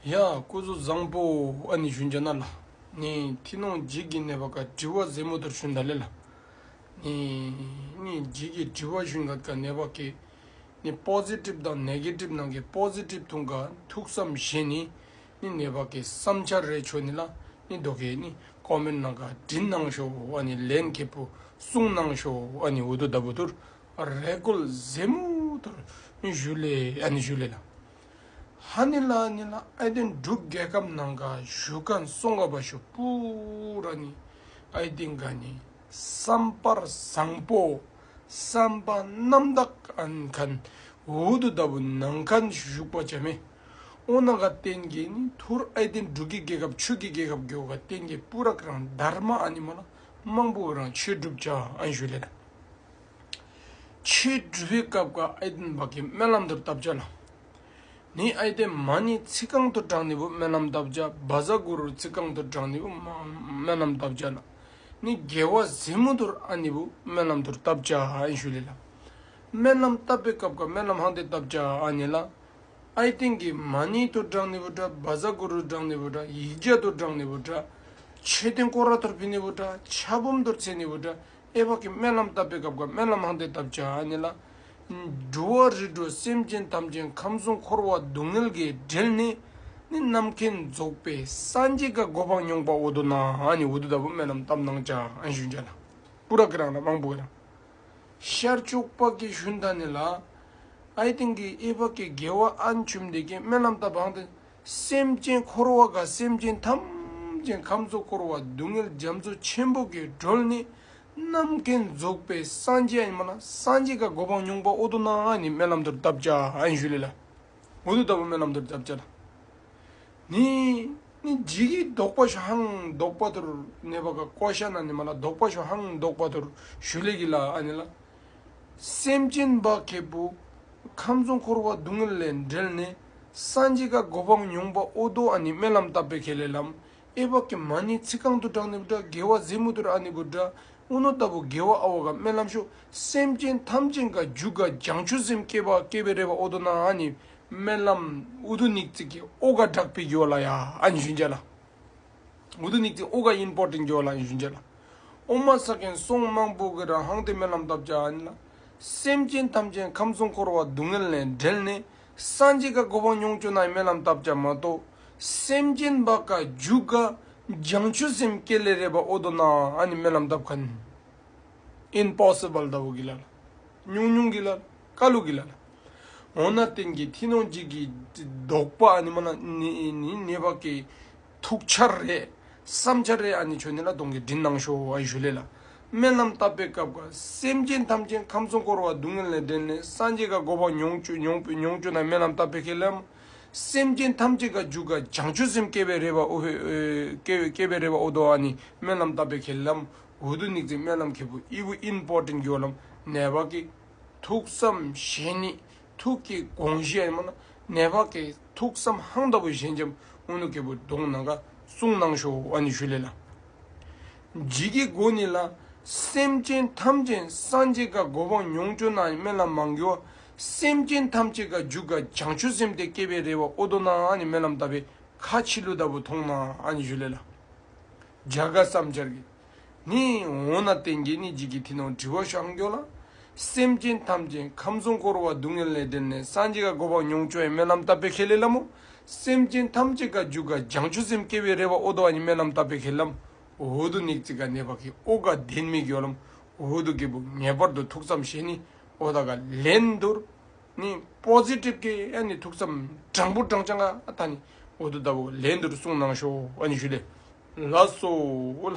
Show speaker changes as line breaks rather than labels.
ཡང་སྐུ་གཟུགས་བཟང་པོ་ཨ་ནི་ཞུན་བྱ་ན་ལ་ནི་མཐིང་ནག་འཇིགས་ཀྱི་ནད་པ་ཀ་དྲི་བ་ཟལ་མོ་དར་ཞུན་ད་ལེ་ལ་ནི་སྙིང་འཇིགས་ཀྱི་དྲི་བ་ཞུན་ག་ནད་པ་ཀེ་ནི་སྤོག་ཟེ་གྲིབ་དང་ནད་ཀེ་གྲིབ་ནང་ཀེ་སྤོག་ཟེ་གྲིབ་ཐུང་ག་ཐུག་སམ་བཞེས་ནི་ནི་ནད་པ་ཀེ་སམ་ཆ་རེ་ཆོད་ནི་ལ་ནི་རྡོ་ཀེ་ནི་ཀོ་མེར་ནང་ག་དྲི་སྣང་ཞོ་ཨ་ནི་ལན་ཀེ་བུ་སུང་སྣང་ཞོ་ཨ་ནི་འུ་དུ་ད་བུ་དུར་རེ་ཀོལ་ཟེ་མོ་དར་ཞུ་ལེ་ཨ་ནི་ཞུ་ལེ་ལ། ཧ་ནི་ལ་ནི་ལ་ཨའི་ཏེ་འབྲུག་རྒྱལ་ཁབ་ནང་ག་ཞུ་ཀ་སོང་ག་བ་ཞུ་པུ་ར་ནི་ཨའི་ཏེ་ག་ནི་སམ་པར་བཟང་པོ་སམ་པ་རྣམ་དག་གནས་གནས་བུ་དུ་ལྟ་བུ་ནང་ག་ནི་ཞུ་པ་བྱ་མེ་ཨོ་ན་ག་རྟེན་གྱི་ནི་ཐུ་ར་ཨའི་ཏེ་འབྲུག་གི་རྒྱལ་ཁབ་ཆུ་གི་རྒྱལ་ཁབ་གྱོ་ག་རྟེན་གྱི་པུ་ར་ཀ་རང་དར་མ་ཨ་ནི་མ་ལ་དམངས་པུ་རང་ཆོས་སྒྲུབ་བྱ་ཨན་ཞུ་ལེ་ད། ཆོས་སྒྲུབ་པའི་སྐབས་ཀྱི་ཨའི་ཏིན་བག་གི་སྨོན་ལམ་དུ་བཏབ་བྱ་ལ། ནི་ཨའི་ཏེ་མ་ནི་ཚིག་རྐང་དུ་བགྲངས་ནི་བུ་སྨོན་ལམ་བཏབ་བྱ་བ་བཟའ་གུ་རུར་ཚིག་རྐང་དུ་བགྲངས་ནི་བུ་སྨོན་ལམ་བཏབ་བྱ་ལ། ནི་རྒྱལ་བ་གཟིམས་མུ་དུར་ཨ་ནི་བུ་སྨོན་ལམ་དུར་བཏབ་བྱ་ཨའི་ཞུ་ལས་ལ། སྨོན་ལམ་བཏབ་པའི་སྐབས་ཀྱི་སྨོན་ལམ་ཧང་སྟེ་བཏབ་བྱ་ཨའི་ནི་ལ། ཨའི་ཏིན་གྱི་མ་ནི་དུར་བགྲངས་ནི་བུ་དྲ་བ་བཟའ་གུ་རུར་བགྲངས་ནི་བུ་དྲ་ཡིག་བརྒྱ་དུར་བགྲངས་ནི་བུ་དྲ། མཆོད་རྟེན་བསྐོར་བ་དུར་ཕུལ་ནི་བུ་དྲ་ཆ་བུམ་དུར་འཚལ་ནི་བུ་དྲ། ཨེ་བག་གི་སྨོན་ལམ་བཏབ་པའི་སྐབས་ཀྱི་སྨོན་ལམ་ཧང་སྟེ་བཏབ་བྱ་ནི་ལ། འགྲོ་བ་རི་བྲོ་སེམས་ཅན་ཐམས་ཅད་ཁམས་གསུམ་འཁོར་བ་སྡུག་བསྔལ་གྱིས་བསྒྲིལ་ནས་ནི་ནམ་མཁའི་རྫོགས་པའི་སངས་རྒྱས་ཀྱི་སྒོ་འཕང་མྱོང་པའོ་དོ་ན་ནི་འོ་དོ་ལྟ་བུ་སྨོན་ལམ་བཏབ་གནང་བྱ་ཞུ་བྱ་ལ། སྤུ་རག་གི་རང་ལ་དབང་པོ་གི་རང། ཤར་ཕྱོགས་དཔག་གི་ཤུན་ད་ནི་ལ། ཨའི་སྟེང་གི་ཨེ་བག་གི་རྒྱལ་བ་ཨ་འཆུམ་འདས་ཀྱི་སྨོན་ལམ་བཏབ་ཧང་སྟེ། སེམས་ཅན་འཁོར་བ་དགའ་སེམས་ཅན་ཐམས་ཅད་ཁམས་གཙོ་འཁོར་བ་སྡུག་བསྔལ་འཇམ་གཙོ་ཆེན་པོ་གི་སྒྲོལ་ནི་རྣམ་མཁྱེན་རྫོགས་པའི་སངས་རྒྱས་ཨེ་མ་ལ་སངས་རྒྱས་ཀ་གོ་འཕང་མྱོང་པ་ཨོ་དོ་ན་ཨ་ནི་སྨན་ལམ་དུར་བཏབ་བྱ་ཨ་ཡིན་ཞུ་ལེ་ལ་འོ་དོ་ལྟ་བུ་སྨན་ལམ་དུར་བཏབ་བྱ་ལ་ནི་ནི་ཇི་གི་བཟློག་པ་ཞོ་ཧང་བཟློག་པ་དུར་གནས་པ་ཀ་ཀོ་ཤ་ན་ནི་མ་ལ་བཟློག་པ་ཞོ་ཧང་བཟློག་པ་དུར་ཞུ་ལེ་གི་ལ་ཨ་ནི་ལ་སེམས་ཅན་འབག་མཁས་པོ་ཁམས་གཙོ་འཁོར་བ་སྡུག་བསྔལ་ལས་འབྲལ་ནས། སངས་རྒྱས་བཀའ་བསྒོ་བམ་མྱོང་པ་ཨོ་རྡོ་ཨ་ནི་སྨན་ལམ་བཏབ་པའི་ཁས་ལེ་ལམ། ཨེ་བྷ་ཀི་མ་ནི་ཚིག་རྐང་དུ་བྲག་ནི་བྲག་དགེ་བ་གཟེ་མུ་ཏོར་ཨ་ནི་གུར་དྲ་ཨུ་ནོ་ཏཱ་བུ་དགེ་བ་ཨ་བྷ་ཀ་སྨན་ལམ་ཤོ་སེམས་ཅན་ཐམས་ཅད་འགའ་རྒྱུ་འགའ་རྒྱང་ཆུ་སེམས་སྐྱེ་བ་སྐྱེ་བའི་རེ་བ་ཨོ་རྡོ་ན་ཨ་ནི་སྨན་ལམ་ཨུ་དུ་ནིག་ཙིག་གི་ཨོ་ག་བྲག་པའི་རྒྱུ་བ་ལ་ཡ་ཨ་ནི་ཞུན་བྱ་ལ། ཨུ་དུ་ནིག་ཙིག་ཨོ་ག་དབྱིན་སྤོར་ཏིང་རྒྱུ་བ་ལ་ཨ་ནི་ཞུན་བྱ་ལ། ཨོ་མ་ས་གན་སོང་དམངས་པོ་གི་ར་ཧང་དེ་སྨན་ལམ་བཏབ་བྱ་ཨ་ནི་ལ། སེམས་ཅན་ཐམས་ཅད་ཁམས་གསུམ་འཁོར་བ་སྡུག་བསྔལ་ལས་བསྒྲལ་ནས་སངས་རྒྱས་དགའ་གོ་བ་མྱོང་སྐྱོ་ན་རྨི་ལམ་བཏབ་ཀྱང་མ་རྟོགས། སེམས་ཅན་བག་དཀའ་རྒྱུ་དཀའ་སྦྱང་ཆུ་སེམས་བསྐྱེད་ལས་རེ་བ་ཨོ་དོ་ན་ཨ་ནི་རྨི་ལམ་བཏབ་ག་ནི། Impossible ལྟ་བུ་གི་ལ་ལ། ཉུང་ཉུང་གི་ལ་ལ། དཀའ་སླུ་གི་ལ་ལ། འོ་ན་རྟེན་གྱི་མཐིལ་ནོངས་འཇིག་གི་ལྡོག་པ་ཨ་ནི་མ་ལ་ནི་ནི་ནི་བག་གི། ཐུགས་འཆར་རེད། བསམ་འཆར་རེད་ཨ་ནི་ཆོས་ནི་ལ་དོང་གི་དྲིན་གནང་ཤོག་ཨ་ཡི་ཞུ་ལས་ལ། སྨན་ལམ་བཏབ་པའི་སྐབས་འགར་སེམས་ཅན་ཐམས་ཅད་ཁམས་གསུམ་བསྐོར་བ་སྡུག་བསྔལ་ལས་འདྲེན་ནས་སངས་རྒྱས་དགའ་འགོ་བ་མྱོང་བྱོས་མྱོང་བོས་མྱོང་བྱོས་ན་སྨན་ལམ་བཏབ་པའི་ཁས་ལེན། སེམས་ཅན་ཐམས་ཅད་དགའ་འཇུག་དགའ་བྱང་ཆུབ་སེམས་སྐྱེ་བའི་རེ་བ་ཨོ་ཧོས་སྐྱེ་བའི་རེ་བ་ཨོ་དོ་ཨ་ནི་སྨན་ལམ་བཏབ་པའི་ཁས་ལེན། འོ་དོ་ནིག་ཙེ་སྨན་ལམ་ཁེ་པོ་ཨི་བུ་ཨིན་པོ་ཏིན་གྱོ་ལམ་ནས་བ་ཀི། ཐུགས་བསམ་བཞེས་ནི་ཐུགས་ཀྱི་དགོངས་བཞེད་སྨྲ་ན་ནད་བག་གི་ཐུགས་བསམ་ཧང་ལྟ་བུ་ཞལ་འཇམ་དབུ་ནུ་གལ་བུ་གདོང་ནང་ཁ་སྲུང་གནང་ཤོག་ཨ་ནི་ཞུ་ལེ་ལ། འཇིགས་ཀྱི་སྒོ་ནི་ལ། སེམས་ཅན་ཐམས་ཅད་སངས་རྒྱས་དགའ་སྒོ་འཕང་མྱོང་སྐྱོ་ན་སྨན་ལམ་མང་རྒྱུ་བ། སེམས་ཅན་ཐམས་ཅད་དགའ་འཇུག་དགའ་བྱང་ཆུབ་སེམས་དེ་སྐྱེ་བའི་རེ་བ་ཨོ་དོ་ན་ཨ་ནི་སྨན་ལམ་ལྟ་བའི་ཁ་ཕྱི་ལུ་ལྟ་བུ་མཐོང་ན་ཨ་ནི་ཞུ་ལེ་ལ། བརྒྱ་དགའ་བསམ་འཆར་གྱི། ནི། འོ་ན་ཏན་གྱིས་ནི་འཇིག་གི་མཐིལ་ནང་དྲི་བ་ཤར་འགྱོ་ལ། སེམས་ཅན་ཐམས་ཅད་ཁམས་གསུམ་འཁོར་བ་སྡུག་བསྔལ་ལས་བསྒྲལ་ནས་སངས་རྒྱས་ཀ་གོ་བ་མྱོང་ཆོས་ཡི་སྨོན་ལམ་བཏབ་པའི་ཁས་ལེན་ལམ་མོ། སེམས་ཅན་ཐམས་ཅད་ཀ་འཇུག་ག་འཇང་ཆུ་སེམས་སྐྱེ་བའི་རེ་བ་ཨོ་དོ་ཨ་ཉི་སྨོན་ལམ་བཏབ་པའི་ཁས་ལམ་འོ་དོ་ནིག་ཙི་ཀ་ནད་བ་ཀི་ཨོ་ག་ལྡན་མིག་ཡོ་ལམ་འོ་དོ་ཀི་བུ་ངེས་པར་དུ་ཐུགས་བསམ་བཞེས་ནི་ཨོ་ད་ག་ལན་དུར། ནི Positive གི་ཨ་ནི་ཐུགས་བསམ་དྲང་པོ་དྲང་བྱང་ཨ་ཐ་ནི་འོ་དོ་ལྟ་བུ་ལན་དུར་གསུངས་གནང་ཤོག་ཨ་ནི་ཞུ་ལེ་ལ་སོ་ལ།